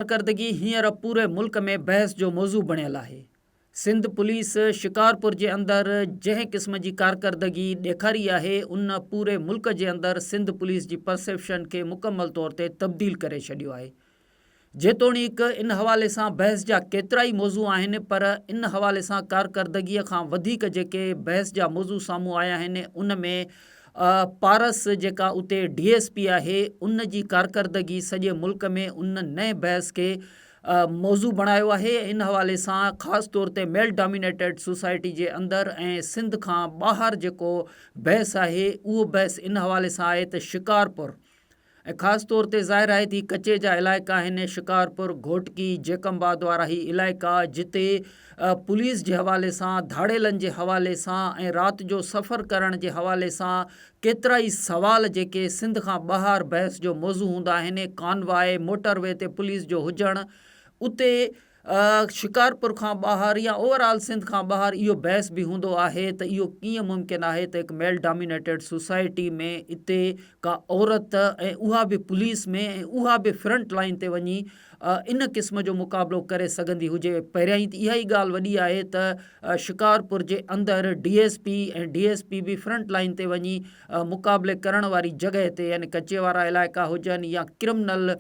ڪارڪردگي هينئر پوري ملڪ ۾ بحث جو موضوع بڻيل آهي، سنڌ پوليس شڪارپور جي اندر جنهن قسم جي ڪارڪردگي ڏيکاري آهي ان پوري ملڪ جي اندر سنڌ پوليس جي پرسيپشن کي مڪمل طور تي تبديل ڪري ڇڏيو آهي جيتوڻيڪ ان حوالي سان بحث جا ڪيترائي موضوع آهن پر ان حوالي سان ڪارڪردگي کان وڌيڪ جيڪي بحث جا موضوع سامهون آيا آهن ان ۾ آء پارس جيڪا اتي ڊي ايس پي آهي ان جي ڪارڪردگي سڄي ملڪ ۾ ان نئين بحث کي موضوع بڻايو آهي ۽ ان حوالي سان خاص طور تي ميل ڊامينيٽيڊ سوسائٽي جي اندر ۽ سنڌ کان ٻاهر جيڪو بحث آهي اهو بحث ان حوالي سان آهي ته شڪارپور ۽ خاص طور تي ظاهر آهي ته هي ڪچي جا علائقا آهن ۽ شڪارپور، گهوٽڪي، جيڪب آباد وارا هي علائقا جتي پوليس جي حوالي سان، ڌاڙيلن جي حوالي سان ۽ رات جو سفر ڪرڻ جي حوالي سان ڪيترائي سوال جيڪي سنڌ کان ٻاهر بحث جو موضوع هوندا آهن، ڪانواء، موٽر وي تي پوليس جو هجڻ، اتي شڪارپور کان ٻاهر يا اوور آل سنڌ کان ٻاهر اهو بحث به هوندو آهي ته اهو ڪيئن ممڪن آهي ته هڪ ميل ڊامينيٽيڊ سوسائٽي ۾ اتي ڪا عورت ۽ اها به پوليس ۾ ۽ اها به فرنٽ لائين تي وڃي ان قسم جو مقابلو ڪري سگهندي هجي پهريائين ته اها ئي ڳالهه وڏي آهي ته شڪارپور جي اندر D S P ۽ D S P به فرنٽ لائين تي وڃي مقابلي ڪرڻ واري جڳهه تي يعني ڪچي وارا علائقا هجن يا ڪرمنل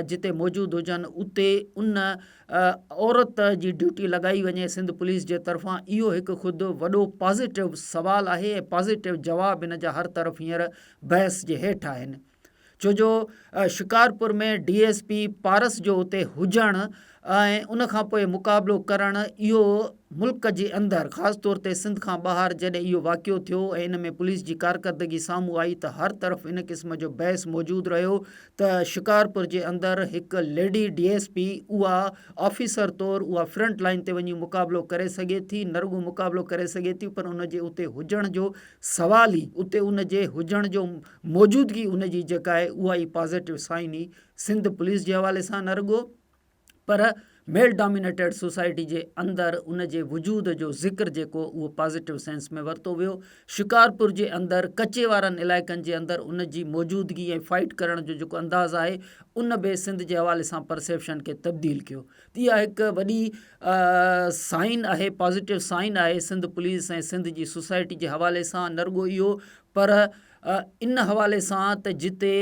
جتي موجود هجن اتي ان عورت جي ڊيوٽي لڳائي وڃي سنڌ پوليس جي طرفان اهو هڪ خود وڏو پازيٽو سوال آهي ۽ پازيٽو جواب ان جا هر طرف هينئر بحث جي هيٺ آهن ڇو جو Shikarpur ۾ D S P Paras جو اتي هجڻ ۽ ان کان پوء مقابلو ڪرڻ اهو ملڪ جي اندر خاص طور تي سنڌ کان ٻاهر جڏهن اهو واقعو ٿيو ۽ ان ۾ پوليس جي ڪارڪردگي سامهون آئي ته هر طرف ان قسم جو بحث موجود رهيو ته شڪارپور جي اندر هڪ ليڊي ڊي ايس پي اها آفيسر طور اها فرنٽ لائين تي وڃي مقابلو ڪري سگهي ٿي نه رڳو مقابلو ڪري سگهي ٿي پر ان جي اتي هجڻ جو سوال ئي اتي ان جي هجڻ جو موجودگي ان جي جيڪا آهي اها ئي پازيٽو سائن ئي سنڌ پوليس جي حوالي سان نه رڳو پر ميل ڊامينيٽيڊ سوسائٽي جي اندر ان جي وجود جو ذڪر جيڪو اهو پازيٽو سينس ۾ ورتو ويو شڪارپور جي اندر ڪچي وارن علائقن جي اندر ان جي موجودگي ۽ فائٽ ڪرڻ جو جيڪو انداز آهي ان به سنڌ جي حوالي سان پرسيپشن کي تبديل ڪيو اها هڪ وڏي سائن آهي پازيٽو سائن آهي سنڌ پوليس ۽ سنڌ جي سوسائٽي جي حوالي سان نه رڳو اهو پر ان حوالي سان ته جتي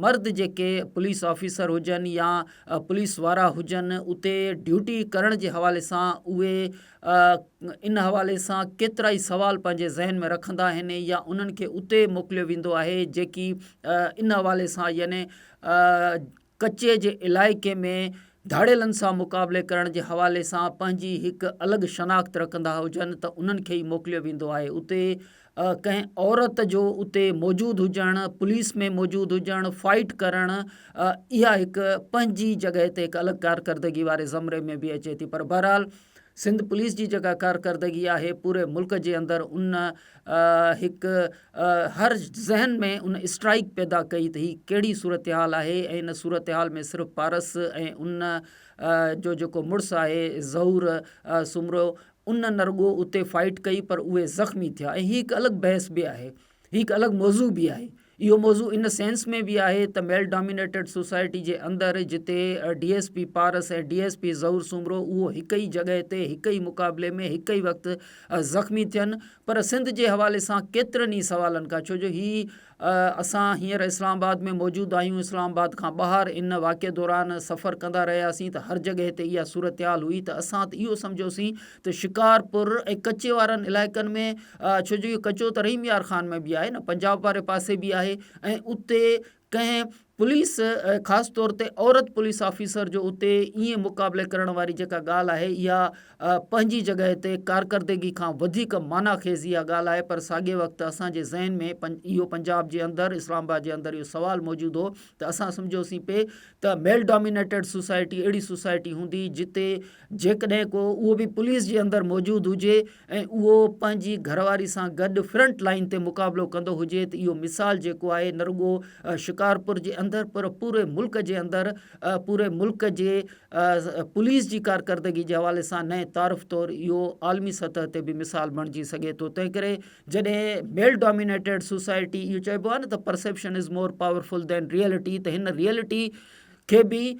مرد جيڪي پوليس آفيسر هجن يا پوليس وارا هجن اتي ڊيوٽي ڪرڻ جي حوالي سان اهي ان حوالي سان ڪيترا ئي سوال پنهنجي ذهن ۾ رکندا آهن يا انهن کي اتي موڪليو ويندو آهي جيڪي ان حوالي سان يعني ڪچي جي علائقي ۾ ڌاڙيلن سان مقابلي ڪرڻ جي حوالي سان پنهنجي هڪ الڳ شناخت رکندا هجن ته انهن کي ئي موڪليو ويندو آهي اتي ڪنهن عورت جو اتي موجود هجڻ پوليس ۾ موجود هجڻ فائيٽ ڪرڻ اها هڪ پنهنجي جڳهه تي هڪ الڳ ڪارڪردگي واري زمري ۾ به اچي ٿي پر بهرحال سنڌ پوليس جي جيڪا ڪارڪردگي آهي پوري ملڪ جي اندر ان هڪ هر ذهن ۾ ان اسٽرائيڪ پيدا ڪئي ته هي ڪهڙي صورتحال آهي ۽ ان صورتحال ۾ صرف پارس ۽ ان جو جيڪو مڙس آهي ظهور سومرو ان نه رڳو اتي فائيٽ ڪئي پر اهي زخمي ٿيا ۽ هي هڪ الڳ بحث به آهي هي هڪ الڳ موضوع به آهي اهو موضوع ان سينس ۾ به آهي ته ميل ڊامينيٽيڊ سوسائٽي جي اندر جتي D S P Paras ۽ D S P Zahoor Soomro اهو هڪ ئي جڳهه تي هڪ ئي مقابلي ۾ هڪ ئي وقت زخمي ٿين پر سنڌ جي حوالي سان ڪيترن ئي سوالن کان ڇو جو هي اسان هينئر اسلام آباد ۾ موجود آهيون اسلام آباد کان ٻاهر ان واقعي دوران سفر ڪندا رهياسين ته هر جڳهه تي اها صورتحال هئي ته اسان ته اهو سمجهيوسين ته شڪارپور ۽ ڪچي وارن علائقن ۾ ڇو جو اهو ڪچو ته رحيم يار خان ۾ به آهي نه پنجاب واري پاسي به آهي ۽ اتي ڪنهن پوليس خاص طور تي عورت پوليس آفيسر جو اتي ائين مقابلي ڪرڻ واري جيڪا ڳالهه آهي اها پنهنجي جڳهه تي ڪارڪردگي کان وڌيڪ معنيٰ خيز اها ڳالهه آهي پر ساڳئي وقت اسانجي ذهن ۾ اهو پنجاب جي اندر اسلام آباد جي اندر اهو سوال موجود هو ته اسان سمجهيوسين پئي ته ميل ڊامينيٽيڊ سوسائٽي اهڙي سوسائٽي هوندي جتي جيڪڏهن ڪو اهو به پوليس جي اندر موجود هجي ۽ اهو پنهنجي گهر واري سان گڏ فرنٽ لائين تي مقابلو ڪندو هجي ته اهو مثال جيڪو آهي نه رڳو شڪارپور جي اندر پر پوري ملڪ جي اندر پوري ملڪ جي پوليس جي ڪارڪردگي جي حوالي سان نئين تعارف طور اهو عالمي سطح تي به مثال بڻجي سگهي ٿو تنهن ڪري جڏهن ميل ڊومينيٽيڊ سوسائٽي اهو چئبو آهي نه ته perception is more powerful than reality ته هن ريئلٽي کي به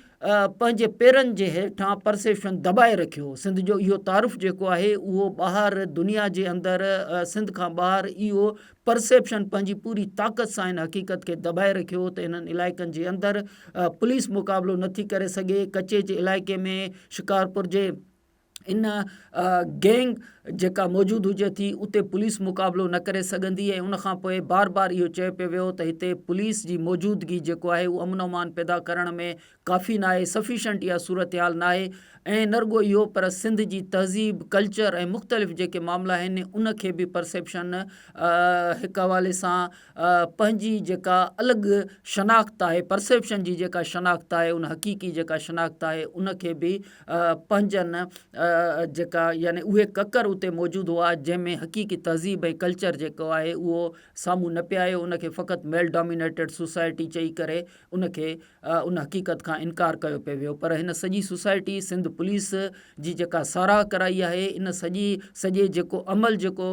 پنهنجي پيرن جي هيٺان پرسيپشن دٻائي رکيو سنڌ جو اهو تعارف جيڪو آهي اهو ٻاهر دنيا جي اندر سنڌ کان ٻاهر اهو پرسيپشن پنهنجي پوري طاقت سان هن حقيقت کي دٻائي رکيو ته هنن علائقن جي اندر پوليس مقابلو نٿي ڪري سگهي ڪچي جي علائقي ۾ شڪارپور جي ان گينگ جيڪا موجود هجي ٿي اتي پوليس مقابلو نه ڪري سگهندي ۽ ان کانپوء بار بار اهو چيو پيو ويو ته هتي پوليس جي موجودگي جيڪو آهي اهو امن امان پيدا ڪرڻ ۾ ڪافي ناهي سفيشنٽ اها صورتحال ناهي ۽ نه رڳو اهو پر سنڌ جي تهذيب ڪلچر ۽ مختلف جيڪي معاملا آهن ان کي به پرسيپشن هڪ حوالي سان پنهنجي جيڪا الڳ شناخت آهي پرسيپشن جي جيڪا شناخت آهي ان حقيقي جيڪا شناخت آهي ان کي به پنهنجن جيڪا يعني اهي ڪڪر اتي موجود هئا جنهن ۾ حقيقي تهذيب ۽ ڪلچر جيڪو آهي اهو سامهون نه پيو آيو ان کي فقط ميل ڊامينيٽيڊ سوسائٽي چئي ڪري ان کي ان حقيقت کان انڪار ڪيو پئي ويو پر هن سڄي سوسائٽي سنڌ پوليس جي جيڪا ساراهه ڪرائي آهي ان سڄي سڄي جيڪو عمل جيڪو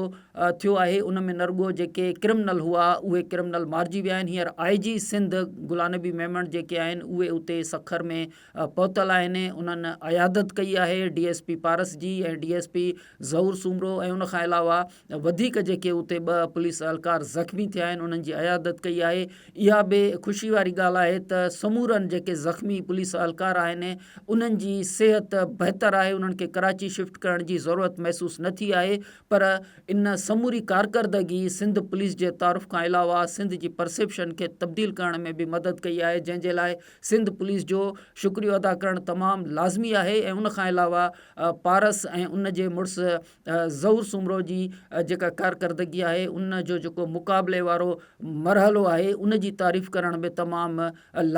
ٿيو آهي ان ۾ نرڳو جيڪي ڪرمنل هئا اهي ڪرمنل مارجي ويا آهن هينئر آئي جي سنڌ گلان نبي ميمڻ جيڪي آهن اهي اتي سکر ۾ پهتل آهن انهن عيادت ڪئي آهي ڊي ايس پي پارس جي ۽ D S P Zahoor Soomro ۽ ان کان علاوه وڌيڪ جيڪي اتي ٻه پوليس اهلڪار زخمي ٿيا آهن انهن جي عيادت ڪئي آهي اها به خوشي واري ڳالهه آهي ته سمورن جيڪي زخمي پوليس اهلڪار آهن انهن جي صحت بهتر آهي انهن کي ڪراچي شفٽ ڪرڻ جي ضرورت محسوس نه ٿي آهي پر ان سموري ڪارڪردگي سنڌ پوليس جي تعارف کان علاوه سنڌ جي پرسيپشن کي تبديل ڪرڻ ۾ به مدد ڪئي آهي جنهن جي لاء سنڌ پوليس جو شڪريو ادا ڪرڻ تمام لازمي آهي ۽ ان کان علاوه پارس ۽ ان جي مڙس ظهور سومرو جي جيڪا ڪارڪردگي آهي ان جو جيڪو مقابلي وارو مرحلو آهي ان جي تعريف ڪرڻ به تمام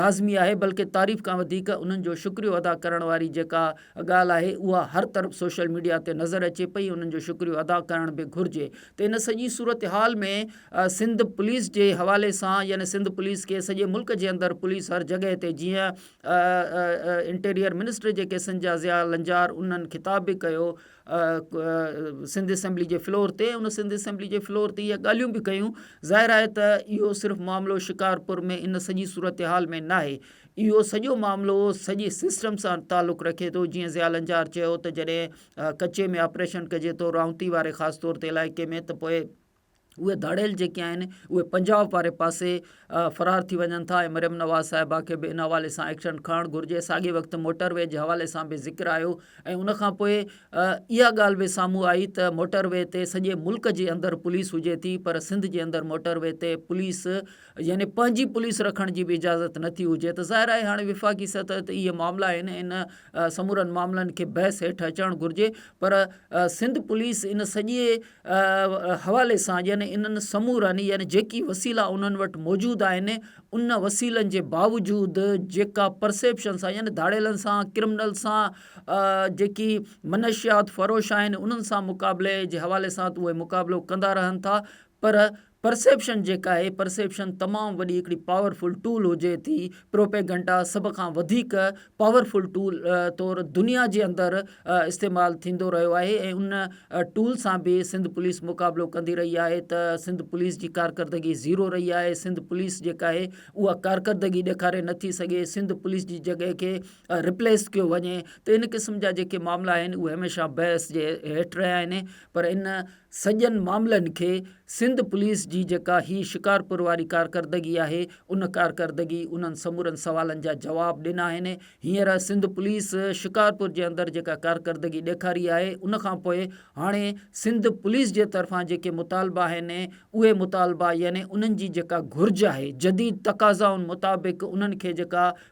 لازمي آهي بلڪه تعريف کان وڌيڪ انهن جو شڪريو ادا ڪرڻ واري جيڪا ڳالهه آهي اها هر طرف سوشل ميڊيا تي نظر اچي پئي انهن جو شڪريو ادا ڪرڻ به گهرجي ته ان سڄي صورتحال ۾ سنڌ پوليس جي حوالي سان يعني سنڌ پوليس کي سڄي ملڪ جي اندر پوليس هر جڳهه تي جيئن انٽيريئر منسٽر جي ڪيسن جا ضياء لنجار انهن خطاب به ڪيو سنڌ اسيمبلي جي فلور تي ان سنڌ اسيمبلي جي فلور تي اهي ڳالهيون به ڪيون ظاهر آهي ته اهو صرف معاملو شڪارپور ۾ ان سڄي صورتحال ۾ ناهي اهو سڄو معاملو سڄي سسٽم سان تعلق رکي ٿو جيئن ضياء لنجار چيو ته جڏهن ڪچي ۾ آپريشن ڪجي ٿو رائونتي واري خاص طور تي علائقي ۾ ته پوء اهي ڌاڙيل جيڪي آهن اهي پنجاب واري پاسي فرار ٿي وڃن ٿا ۽ مريم نواز صاحبه کي به ان حوالي سان ايڪشن کڻڻ گهرجي ساڳئي وقت موٽر وي جي حوالي سان به ذڪر آيو ۽ ان کان پوء اها ڳالهه به سامهون آئي ته موٽر وي تي سڄي ملڪ جي اندر پوليس هجي ٿي پر سنڌ جي اندر موٽر وي تي پوليس يعني پنهنجي پوليس رکڻ جي به اجازت نٿي هجي ته ظاهر آهي هاڻي وفاقي سطح تي اهي معاملا آهن ان سمورن معاملن کي بحث هيٺ اچڻ گهرجي پر سنڌ پوليس ان سڄي حوالي سان يعني انهن سمورن يعني جيڪي وسيلا انهن وٽ موجود آهن ان وسيلن جي باوجود جيڪا پرسيپشن سان يعني ڌاڙيلن سان ڪرمنل سان جيڪي منشيات فروش آهن انهن سان مقابلي جي حوالي سان اهي مقابلو ڪندا رهن ٿا پر پرسيپشن جيڪا هي پرسيپشن تمام وڏي هڪڙي پاور فل ٽول هجي ٿي پروپيگنڊا سڀ کان وڌيڪ پاور فل ٽول طور دنيا جي اندر استعمال ٿيندو رهيو آهي ۽ ان ٽول سان به سنڌ پوليس مقابلو ڪندي رهي آهي ته سنڌ پوليس جي ڪارڪردگي زيرو رهي آهي سنڌ پوليس جيڪا آهي اها ڪارڪردگي ڏيکاري نه ٿي سگهي سنڌ پوليس جي جڳهه کي ريپليس ڪيو وڃي ته ان قسم جا جيڪي معاملا آهن اهي هميشه بحث جي هيٺ رهيا آهن پر ان سڄن معاملن کي سنڌ پوليس جي جيڪا هي شڪارپور واري ڪارڪردگي آهي ان ڪارڪردگي انهن سمورن سوالن جا جواب ڏنا آهن هينئر سنڌ پوليس شڪارپور جي اندر جيڪا ڪارڪردگي ڏيکاري آهي ان کان پوء هاڻي سنڌ پوليس جي طرفان جيڪي مطالبا آهن اهي مطالبا يعني انهن جي جيڪا گهرج آهي جديد تقاضائن مطابق انهن کي جيڪا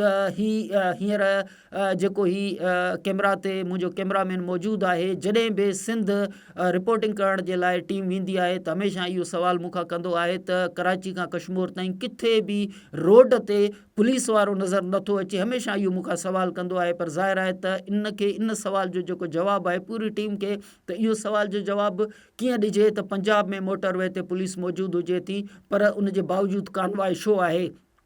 ته هي هينئر جيڪو هي ڪيمرا تي منهنجو ڪيمرا مين موجود آهي جڏهن به سنڌ رپورٽنگ ڪرڻ جي لاء ٽيم ويندي آهي ته هميشه اهو سوال مون کان ڪندو آهي ته ڪراچي کان ڪشمور تائين ڪٿي به روڊ تي پوليس وارو نظر نٿو اچي هميشه اهو مون کان سوال ڪندو آهي پر ظاهر آهي ته ان کي ان سوال جو جيڪو جواب آهي پوري ٽيم کي ته اهو سوال جو جواب ڪيئن ڏجي ته پنجاب ۾ موٽر وي تي پوليس موجود هجي ٿي پر ان جي باوجود ڪانوائي شو آهي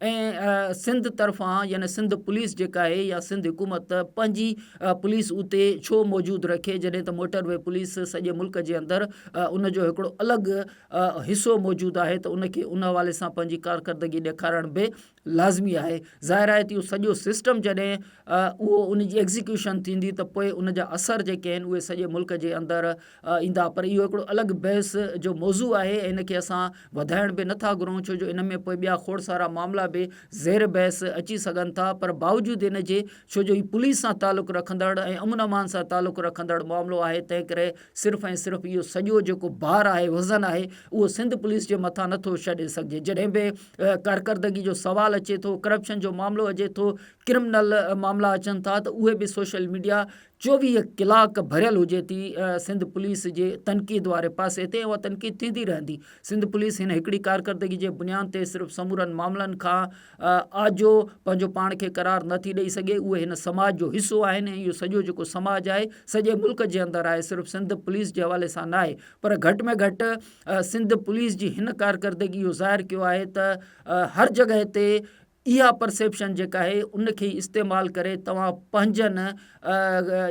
۽ سنڌ طرفان يعني سنڌ پوليس جيڪا آهي يا سنڌ حڪومت پنهنجي پوليس اتي ڇو موجود رکي جڏهن ته موٽر وي پوليس سڄي ملڪ جي اندر ان جو هڪڙو الڳ حصو موجود آهي ته ان کي ان حوالي سان پنهنجي ڪارڪردگي ڏيکارڻ به لازمي آهي ظاهر آهي ته اهو سڄو سسٽم جڏهن اهو ان جي ايگزيڪيوشن ٿيندي ته پوء ان جا اثر جيڪي آهن اهي سڄي ملڪ جي اندر ايندا پر اهو هڪڙو الڳ بحث جو موضوع آهي ۽ ان کي اسان وڌائڻ به نٿا گهرون ڇو جو ان ۾ پوء ٻيا کوڙ سارا معاملا به زير بحث اچي سگهن ٿا پر باوجود ان جي ڇو جو هي پوليس سان تعلق رکندڙ ۽ امن امان سان تعلق رکندڙ معاملو آهي تنهن ڪري صرف ۽ صرف اهو سڄو جيڪو بار آهي وزن آهي اهو سنڌ پوليس جي مٿان نٿو ڇڏي سگهجي جڏهن به ڪارڪردگي جو سوال اچي ٿو ڪرپشن جو معاملو اچي ٿو ڪرمنل معاملا اچن ٿا ته اهي به سوشل ميڊيا چوويهه ڪلاڪ ڀريل هجي ٿي ۽ سنڌ پوليس جي تنقيد واري پاسي تي اها تنقيد ٿيندي رهندي. سنڌ پوليس هن هڪڙي ڪارڪردگي جي بنيان تي صرف سمورن معاملن کان آجو پنهنجو پاڻ کي قرار نه ٿي ڏئي سگهي. اهي هن سماج جو حصو آهن ۽ اهو سڄو جيڪو سماج آهي سڄي ملڪ جي اندر آهي صرف سنڌ پوليس جي حوالي سان ناهي پر گهٽ ۾ گهٽ سنڌ پوليس جي هن ڪارڪردگي اهو ظاهر ڪيو آهي ته هر جڳهه تي اها پرسيپشن جيڪا آهي ان کي استعمال ڪري توهان پنهنجن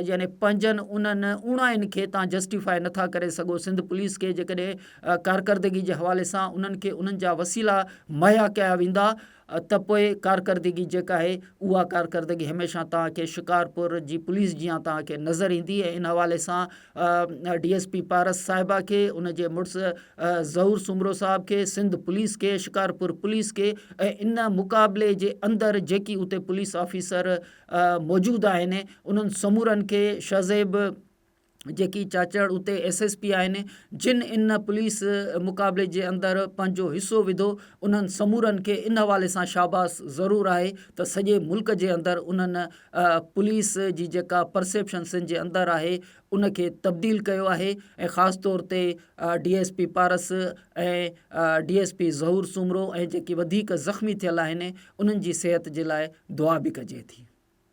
يعني پنهنجن انهن اوڻاين کي توهان جسٽيفاء نٿا ڪري سگهو سنڌ پوليس کي جيڪڏهن ڪارڪردگي جي حوالي سان انهن کي انهن جا وسيلا مهيا ڪيا ويندا ته پوء ڪارڪردگي جيڪا آهي اها ڪارڪردگي هميشه توهان کي شڪارپور جي پوليس جيان توهان کي نظر ايندي ۽ ان حوالي سان ڊي ايس پي پارس صاحبه کي، ان جي مڙس ظهور سومرو صاحب کي، سنڌ پوليس کي، شڪارپور پوليس کي ۽ ان مقابلي جي اندر جيڪي اتي پوليس آفيسر موجود آهن انهن سمورن کي شھزيب جيڪي چاچڙ اتي ايس ايس پي آهن جن ان پوليس مقابلي جي اندر پنهنجو حصو وڌو انهن سمورن کي ان حوالي سان شاباس ضرور آهي ته سڄي ملڪ جي اندر انهن پوليس جي جيڪا پرسيپشن سنڌ جي اندر آهي ان کي تبديل ڪيو آهي ۽ خاص طور تي D S P Paras ۽ D S P Zahoor Soomro ۽ جيڪي وڌيڪ زخمي ٿيل آهن انهن جي صحت جي لاء دعا به ڪجي ٿي